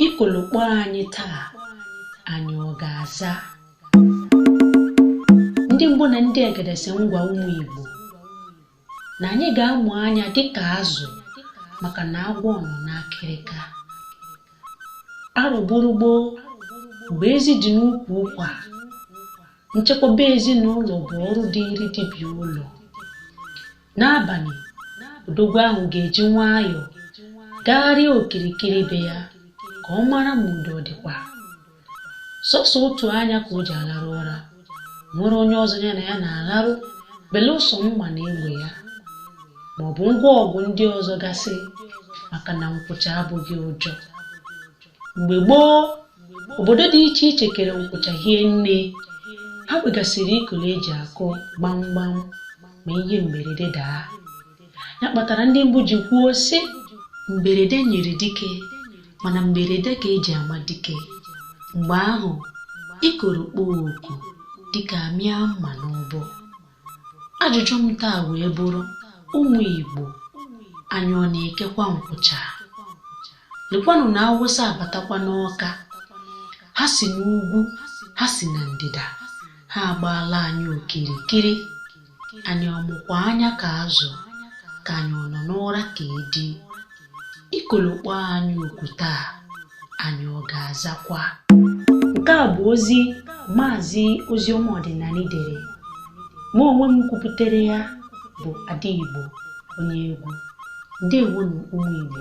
Ikolo kpọọ anyị taa, anyị ọ ga-aza? Ndị mbụ na ndị egede sị m gwa ụmụ Igbo na anyị ga-amụ anya dịka azụ maka na agwọ nọ n'akịrịka. Arọ gburu gboo mgbe ezi dị n'ukwu ụkwa, nchekwaba ezinụlọ bụ ọrụ dịịrị di bi ụlọ. N'abanị, odogwu ahụ ga-eji nwayọọ gagharịa okirikiri be ya ka ọ mara ma udo ọ dịkwa. Sọsọ otu anya ka o ji alarụ ụra. O nwerọ onye ọzọ ya na ya na-alarụ belụsọ mma na egbe ya ma ọ bụ ngwa ọgụ ndị ọzọ gasị maka na nkwụcha abụghị ụjọ. mgbe gboo obodo dị iche iche kere nkwụcha hie nne ha kwegasịrị ikolo eji akụ gbamgbam ma ihe mberede daa ya kpatara ndị mbụ ji kwuo sị mberede nyịrị dike mana mberede ka eji ama dike mgbe ahụ ikoro kpọọ oku dike amịa mma n'ọbọ ajụjụ m taa wee bụrụ ụmụ Igbo anyị ọ na-ekekwa nkwụcha lekwanụ na awụsa abatakwa n'ọka ha si n'ugwu ha si na ndịda ha agbaala anyị okirikiri anyị ọ mụkwa anya ka azụ ka anyị ọ nọ n'ụra ka edi ikolo kpọọ anyị oku taa anyị ọ ga-azakwa nke a bụ ozi maazị oziọma ọdịnanị dere mụ onwe m kwuputere ya bụ ada igbo onye egwu ndewonụ ụmụ igbo